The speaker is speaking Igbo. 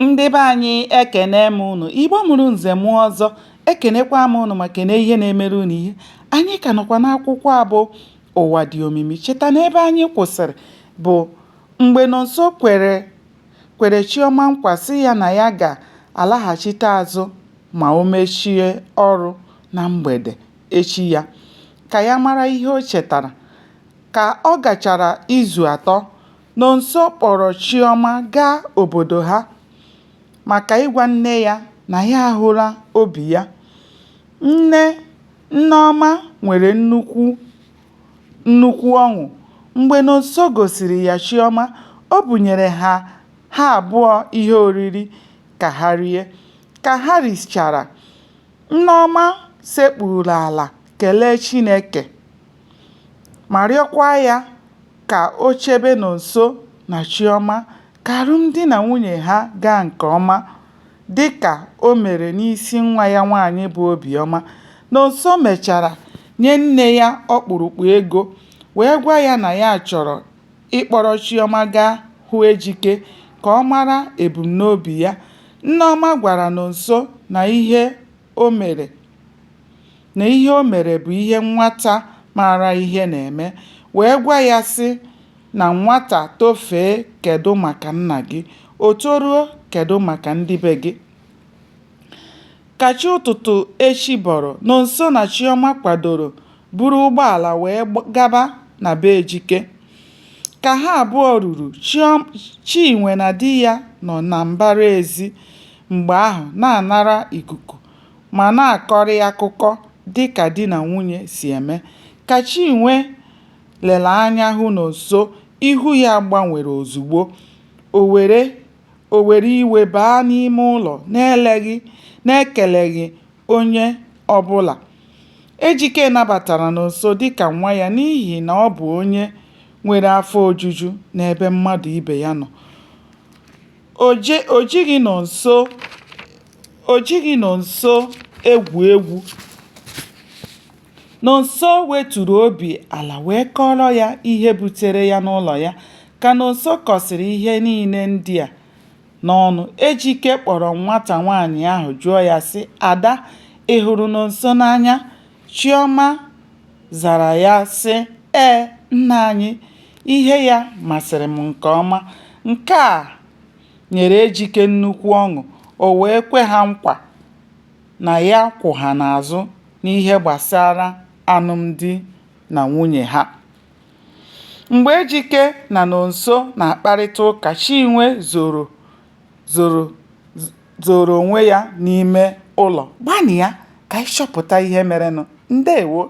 ndị be anyị ekene m ụnụ igbo mụrụ nze mụọ ọzọ ekenekwa m ụnụ ma kene ihe na-emere ụnụ ihe anyị ka nọkwa n'akwụkwọ a bụ ụwa dị omimi cheta na ebe anyị kwụsịrị bụ mgbe nonso kwere chioma nkwa sị ya na ya ga-alaghachite azụ ma o mechie ọrụ na mgbede echi ya ka ya mara ihe o chetara ka ọ gachara izu atọ Nonso kpọrọ Chioma gaa obodo ha maka ịgwa nne ya na ya ahụla obi ya. Nne Nneoma nwere nnukwu ọṅụ mgbe Nonso gosiri ya Chioma, o bunyere ha ha abụọ ihe oriri ka ha rie. Ka ha richara, Nneoma sekpuuru ala kelee Chineke. ma rịọkwa ya ka o chebe Nonso na Chioma ka alụmdi na nwunye ha gaa nke ọma dịka o mere n'isi nwa ya nwaanyị bụ Obiọma, Nonso mechara nye nne ya ọkpụrụkpụ ego wee gwa ya na ya chọrọ ịkpọrọ Chioma gaa hụ Ejike ka ọ mara ebumnobi ya, Nneoma gwara Nonso na ihe o mere. na ihe o mere bụ ihe nwata maara ihe na-eme wee gwa ya sị na nwata tofee kedụ maka nna gị, o toruo kedụ maka ndị be gị. Ka chi ụtụtụ echi bọrọ, Nonso na Chiọma kwadoro buru ụgbọala wee gaba na be Ejike. Ka ha abụọ ruru, Chinwe na di ya nọ na mbara ezi mgbe ahụ na-anara ikuku. ma na-akọrị akụkọ dị ka di na nwunye si eme. Ka Chinwe lere anya hụ Nonso, ihu ya gbanwere ozugbo. O were iwe baa n'ime ụlọ n'ekeleghị onye ọ bụla. Ejike nabatara Nonso dị ka nwa ya n'ihi na ọ bụ onye nwere afọ ojuju n'ebe mmadụ ibe ya nọ. O ji o jighị Nonso egwu egwu. Nonso weturu obi ala wee kọọrọ ya ihe butere ya n'ụlọ ya. Ka Nonso kọsịrị ihe niile ndị a n'ọnụ, Ejike kpọrọ nwata nwaanyị ahụ jụọ ya sị, Ada, ị hụrụ Nonso n'anya? Chioma zara ya sị, Ee, nna anyị, ihe ya masịrị m nke ọma. Nke a nyere Ejike nnukwu ọṅụ, o wee kwe ha nkwa na ya kwụ ha n'azụ n'ihe gbasara alụmdi na nwunye ha. Mgbe Ejike na Nonso na-akparịta ụka, Chinwe zoro zoro onwe ya n'ime ụlọ gbanịa ka anyị chọpụta ihe merenụ. Ndewo!